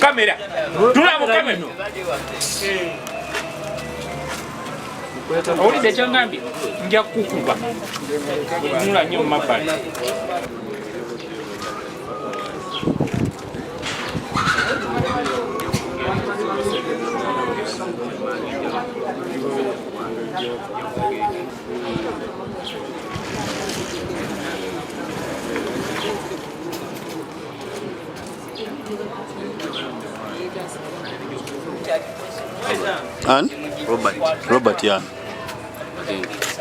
kamera tulamu kamera owulidde kyangambye nja kukuba nula nyo mumabbali Robert. Robert, yeah.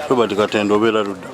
Robert Katendo obeera ludda.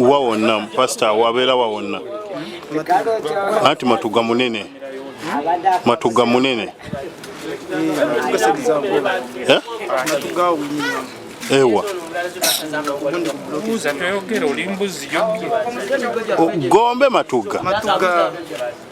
wa wonna pasita wabeera wa wonna anti matuga munene matuga munene eh? ewa gombe matuga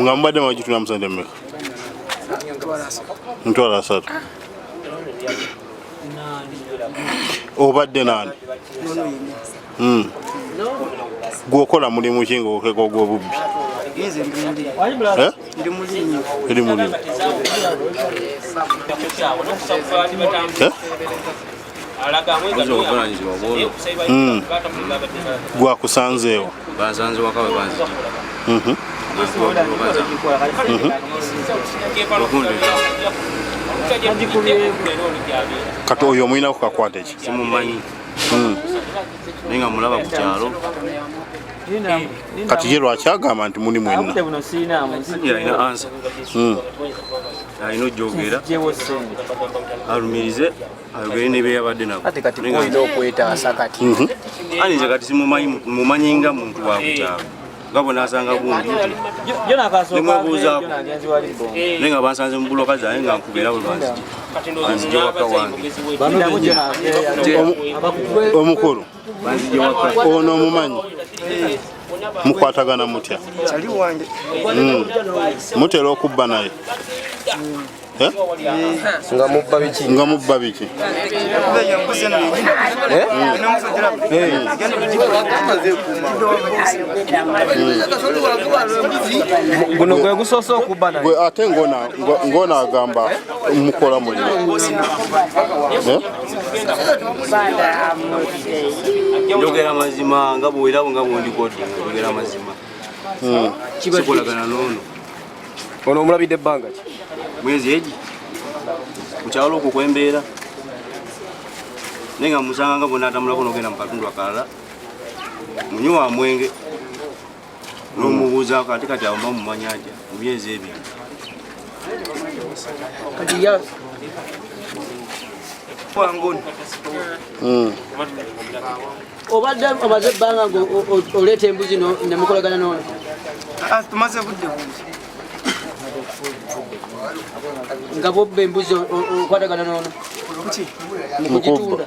nga mubadde mwaji tuna musente mmeka mutwala asatu obadde nani hmm. gwokola mulimu ki nga okeka ogwobubbi ndi mulimi eh? Hmm. gwakusanzeewo mhm. kati oyo omulina ku kakwate ki simumanyi hmm. naye nga mulaba ku kyalo kati ye lwaki agamba nti muli mwenna hmm. alina ojogera alumirize ayogere ne beyabadde nabo kati kati olina okwetaasa kati mhm. ani nze kati simumanyi nga muntu wakukyalo nga bwenasanga gundi nemwebuuzaako naye nga bansanze mu buloka zaye nga nkubeera bwe banzije banzije waka wange omukulu ono omumanyi mukwatagana mutya hmm. mutera okubba naye eh? nga mubba biki nga mubba biki guno gwe gusoose okubba naye ate ngona agamba mukola muliro eh? njogera mazima nga bwerawo nga bwondikodde njogera mazima hmm. kikolagana noono ono omulabidde ebbanga ki mwezi egi kukyalo okwo kwembeera naye nga musanga nga bwonatamulako nogenda mu katundu akalala munyuwa mwenge nomubuuzaako ate kati awo mamumanya atya mu myezi ebiri hmm. obadde omaze ebbanga ngaoleeta embuzi nemukolagana nono ah, tumaze budde bungi nga bobba embuzi okwatagana nono mukugitunda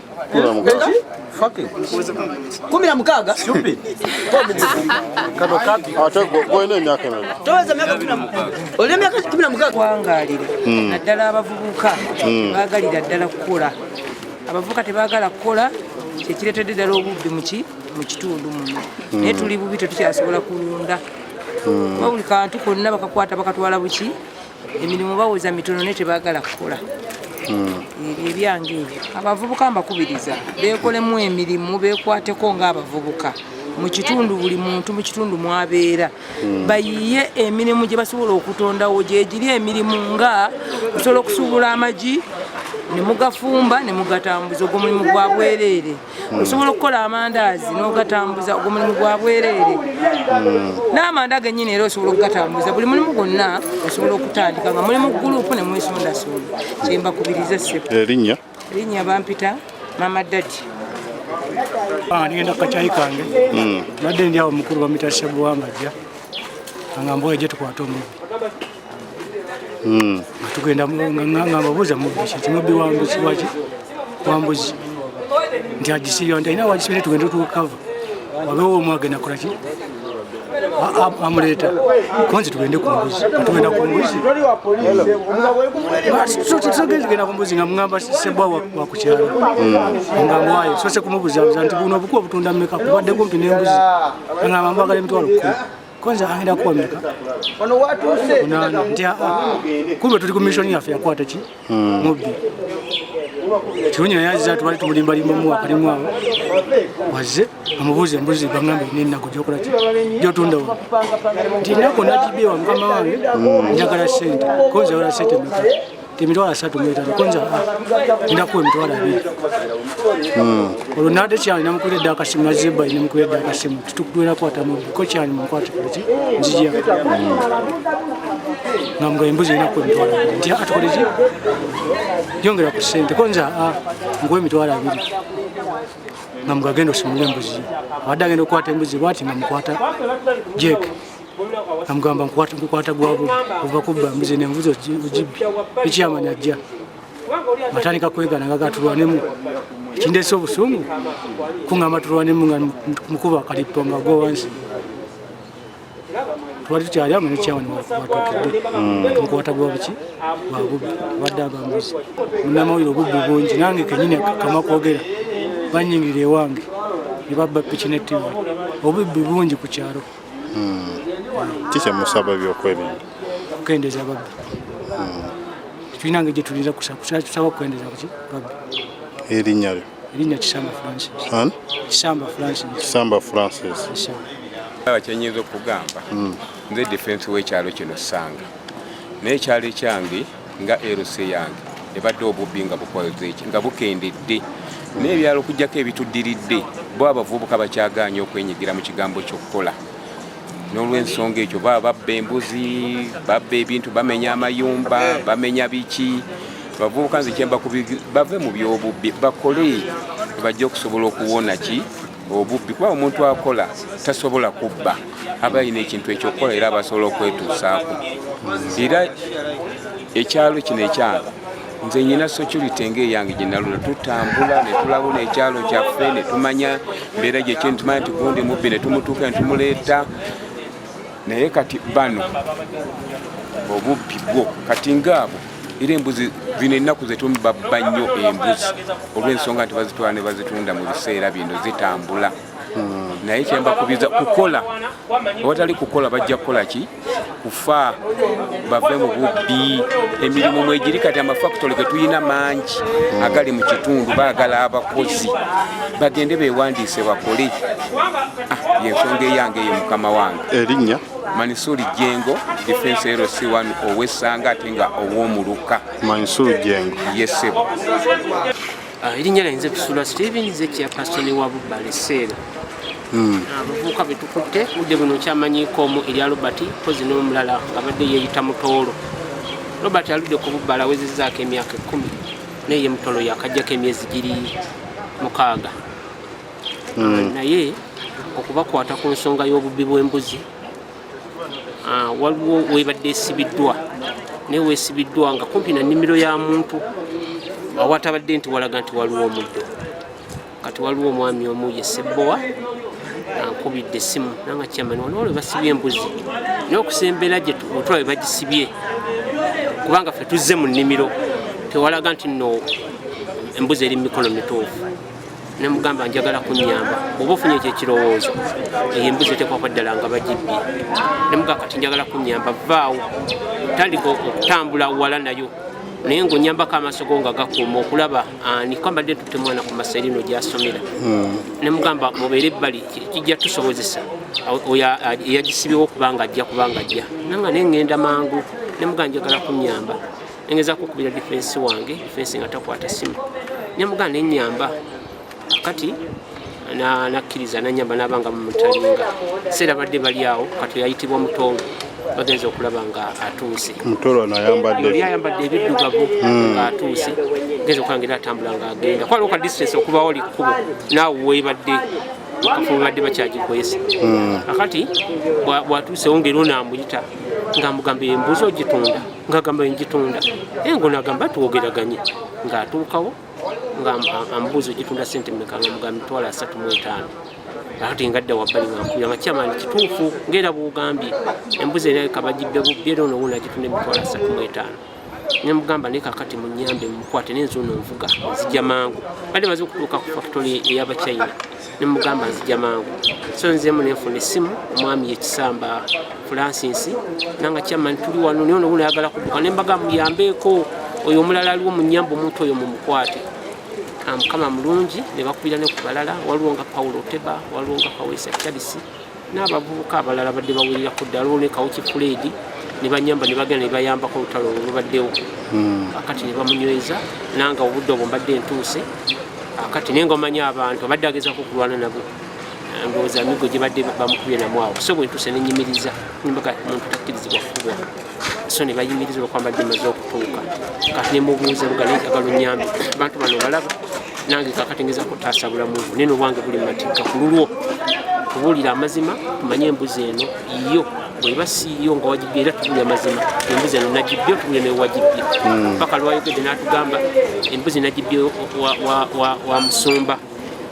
kumi na mukaaga olina emyaka kumi na mukaaga wangalira hmm. naddala abavubuka hmm. bagalira ddala kukola abavubuka tebagala kukola kyekiretedde ddala obubbi muki mu kitundu muno hmm. naye tuli bubi tetukyasobola kulunda wabuli kantu konna bakakwata bakatwala buki emirimu bawoza mitono naye tebagala kukola hmm. ebyo ebyange ebyo abavubuka mbakubiriza bekolemu emirimu bekwateko ngaabavubuka mukitundu buli muntu mukitundu mwabeera hmm. bayiye emirimu gyebasobola okutondawo gyegiri emirimu nga osobola okusuubula amagi nemugafumba nemugataambuza ogwo mulimu gwa bwereere Hmm. osobola okukola amandaazi n'ogatambuza ogwo mulimu gwa bwereere hmm. n'amanda genyini era osobola okugatambuza buli mulimu gwonna osobola okutandika nga mulimu gulupu ne mwesondasonda kyembakubiriza essepo erinnya eh, erinnya bampita mama dadi ah, nigenda kukakyayi kange hmm. badde ndi awo mukulu bamita sebuwangajja angamba oyo gye tukwata omulimu hmm. nga tugenda ngababuuza mubiki timubbi wambuzi waki wambuzi nti agisiyo nti ayina wagisibire tugenda tukava wabewo omu agenda kolaki amuleeta konzi tugende ku mbuzi tugenda ku mbuzi tugenda ku mbuzi nga mugamba sebwa wakukyalo hmm. nga mwayo sose kumubuzabuza nti buno obuku obutunda meka kubadde kumpi nembuzi nga mambagala emitwalo kumi kwanza agenda kuwa meka wano watuuse nti ah, ah, kumbe tuli ku mission yaffe yakwata ki hmm. mubbi kirungi naye aziza tubali tumulimbalimbamu wakalimu awo wazze amubuuza embuzi bagambe nenaku gyokola ki gyotunda wa nti naku nagibewa mukama wange hmm. njagala sente konzawala sente meka emitwalo asatu mwetano konza ndaku emitwalo abiri hmm. olwo nade kyali namukula edda akasimu nazeba namukula edda akasimu tutukutwera kwata muko kyali munkwata kati nzija ngamuga embuzi enaku emitwalo abiri nti atukoleki yongera ku sente konza nkuwa emitwalo abiri nga mugagenda osimula embuzi abadde agenda okukwata embuzi bwati nga mukwata jeke amugamba nkukwata gwabu ova kubba mbuzi nembuzi ogibbi ekyama najja atandika kwegana nga gatulwanemu kindese obusungu kungamba tulwanemu nga mukuba akalippo nga gowansi twali tukyali amanyi kyawani watukidde nkwata gwa buki bwa bubbi wadde abambuzi munamawulire obubbi bungi nange kenyini kama kwogera banyingira ewange ne babba piki ne tivi obubbi bungi ku kyalo hmm. kiki musaba ebyokwerinda okukendeza babbi hmm. tulina nga gyetulinza kusaba kukendeza kuki babbi erinnya lyo erinnya kisamba francis kisamba francis kisamba francis aba kyenyinza okugamba hmm. nze defense wekyalo kino sanga naye ekyalo ekyange nga LC yange ebadde obubbi nga bukozeeki nga bukendedde n'ebyalo okujjako ebituddiridde bo abavubuka bakyagaanye okwenyigira mu kigambo ky'okukola n'olwensonga ekyo baba babba embuzi babba ebintu bamenya amayumba bamenya biki abavubuka nze kyemba bave mu byobubbi bakole bajja okusobola okuwona ki obubbi kuba omuntu akola tasobola kubba aba alina ekintu ekyokukola era abasobola okwetuusaako era ekyalo kino ekyange nze nyina security ngaeyange gyenalula tutambula netulabula ekyalo kyaffe netumanya mbeera gyekintumanya nti gundi mubbi netumutuuka netumuleeta naye kati bano obubbi bwo kati ngaabo era embuzi zino ennaku zetumubabba nnyo embuzi olw'ensonga nti bazitwala ne bazitunda mu biseera bino zitambula hmm. naye kyembakubiza kukola awatali kukola bajja kukola ki kufa bave mu bubbi emirimu mwegiri kati amafakitole getulina mangi hmm. agali mu kitundu baagala abakozi bagende bewandiise bakole Ah, yensonga eyange eyo mukama wange erinnya manisuri jengo defense lc1 owesanga ate nga owomuluka manisuri jengo yesebo ah, erinnya lyayinza ekusula steven zekia pasitoni wa bubale seera hmm. ah, abavubuka betukutte budde buno kyamanyiko omu erya robert pozi n'omulala abadde yeeyita mutoolo robert aludde ku bubbala awezezaako emyaka ekumi naye ye mutolo yakajjako emyezi giri mukaaga hmm. naye okubakwata ku nsonga y'obubbi bw'embuzi ah, waliwo webadde esibiddwa naye wesibiddwa nga kumpi na nnimiro ya muntu awatabadde nti walaga nti waliwo omuddo kati waliwo omwami omu ye sebbowa ankubidde essimu nanga kyamani waliwo lwe basibye embuzi naye okusembera gye otula be bagisibye kubanga ffe tuzze mu nnimiro tewalaga nti no embuzi eri mu mikono mituufu nemugamba njagala kunyamba oba ofunye ekyo ekirowoozo eyo embuzi etekwako ddala nga bagibbye nemuga kati njagala kunyamba vaawo tandika okutambula wala nayo naye ngaonyambako amaaso go nga gakuuma okulaba ani ah, kwambadde tutte mwana ku masa erino gyasomera hmm. nemugamba mubeere ebbali kijja tusobozesa oyo eyagisibyewo ah, kubanga ajja kubanga ajja nanga naye ngenda mangu nemuga njagala kunyamba nengeza kukubira difensi wange difensi nga takwata simu nemugana nenyamba kati nakkiriza nanyamba nabanga mumutalinga seera badde bali awo kati yayitibwa mutongo bagenza okulaba nga atuuse yayambadde ebiddugavu hmm. nga atuuse genza okulaba ngaera atambula nga agenda kwala oka distance okuba oli kkubo naawe webadde mukafu webadde bakyagikwesa hmm. akati bwatuusewo ngaera onaamuyita nga mugamba embuuzi ogitunda ngagamba njitunda naye ngo nagamba twogeraganye ng'atuukawo nga ambuuza ogitunda sente meka nga mugambi twala asatu mu etaano ati ngadda wabbali ngankubira nga kyamaani kituufu ngaera bwogambye embuzi era kabagidde bubbi era ono wuuna agitunda emitwalo asatu mu etaano nemugamba naye kakati munyambe mukwate nenzi ono nvuga nzija mangu badde maze okutuuka ku fakitole ey'abachina nemugamba nzija mangu so nzemu nenfuna essimu omwami yekisamba francis nanga kyamani tuli wano naye onobu nayagala kuduka nembaga muyambeeko oyo omulala aliwo munyamba omuntu oyo mumukwate ah, mukama mulungi nebakubira nekubalala waliwo nga paulo oteba waliwo nga kawesa charisi n'abavubuka abalala badde bawulira ku dda lwone kawuki fuledi nebanyamba nebagenda nebayambako olutalo olwo lubaddewo hmm. akati nebamunyweza nanga obudde obwo mbadde entuuse akati naye ngaomanya abantu abadde agezako okulwana nabo ndowooza amigo gyebadde bamukubye namwawo so bwentuuse nenyimiriza nimbaga muntu takkirizibwa kukubwa so nebayimiriza olwokwambadde maze okutuuka kati nemubuuza luga naye njagala onyambi abantu bano balaba nange kakati ngeza kutaasa bulamu bwo naye nobwange buli matigga ku lulwo kubuulira amazima tumanye embuzi eno yo bweba siiyo nga wagibbye era tubuulira amazima embuzi eno nagibbye otubuulira naye wagibbye hmm. paka lwayogedde n'atugamba embuzi nagibbye wa musumba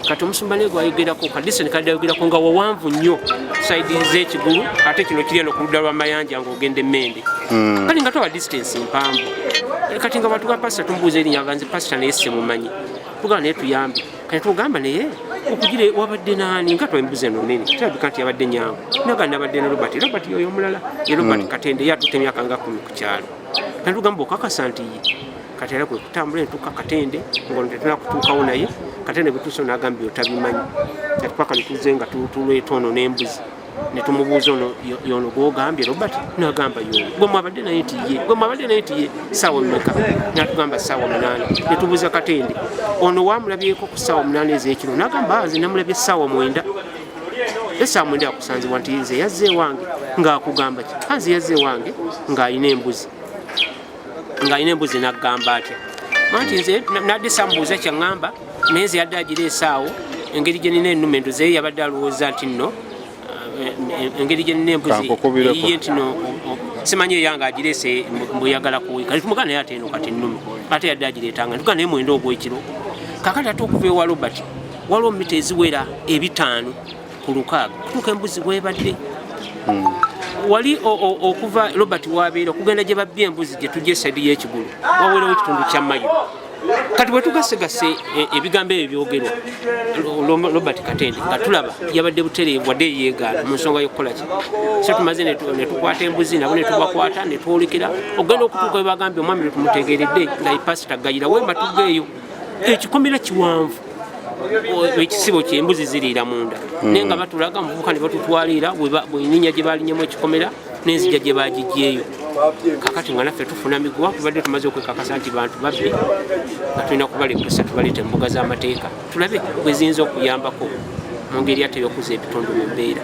kati omusumba naye gwayogerako kadisoni kadde ayogerako nga wawanvu nnyo saidi z'ekigulu ate kino kiri eno ku ludda lwa mayanja ogenda emmende hmm. kale nga twaba distance mpanvu eh, kati nga bantu ba pasita tumubuuza erinya aganze pasita naye simumanyi tugamba naye tuyambe kati tugamba naye okugire wabadde naani nga twembuza eno nene kirabika nti yabadde nyangu naga nabadde ne robert robert yoyo omulala ye robert hmm. katende yatutte emyaka nga kumi ku kyalo kati tugamba okakasa nti ye kati era kwe kutambula entuka katende ngono tetuna kutuukawo naye katende bwetuusa nagambye otabimanyi kati paka netuze nga tulwetono n'embuzi ne tumubuuza ono yono gwogambye robert nagamba yono gwe mwabadde naye nti ye gwe mwabadde naye nti ye saawa mumeka natugamba saawa munaana ne tubuuza katende ono wamulabyeko ku saawa munaana ezekiro nagamba ah, nze namulabye saawa mwenda esaawa mwenda yakusanzibwa nti nze yazze ewange ngaakugamba ki anze ah, yazze ewange ng'alina embuzi ng'alina embuzi nagamba atya manti nze nadde samubuuza kyaŋŋamba naye nze yadde agira esaawo engeri gyenina enuma enduze ye yabadde alowooza nti nno eh, engeri gyenina embuzi eyiye nti no simanyi eyange agirese mbuyagala kuwika tumuga naye ate eno kati enuma ate yadde agireetanga tuga naye mwenda ogwekiro kakati ate okuva ewa robert waliwo mita eziwera ebitaano ku lukaaga kutuuka embuzi webadde hmm. wali okuva robert wabeera okugenda gye babbye embuzi gye tujja esedi y'ekigulu waweerawo ekitundu kya mayo kati bwetugasegase e, ebigambo ebyo byogerwa robert katende nga tulaba yabadde butereevu wadde yeegaana mu nsonga y'okukolaki so tumaze netukwata embuzi nabo netubakwata netwolekera okugenda okutuuka webagambye omwami lwetumutegeredde nga ipasita gayira wemba tugeeyo ekikomera kiwanvu ekisibo kyembuzi ziriira munda hmm. naye nga batulaga mubuka ne batutwaliira bweninya gye balinyemu ekikomera nenzija gye bagigyeyo kakati nga naffe tufuna miguwa kubadde tumaze okwekakasa nti bantu babbi nga tulina kubalepusa tubaleeta embuga z'amateeka tulabe bwe ziyinza okuyambako mu ngeri ate eyokuza ebitundu mu mbeera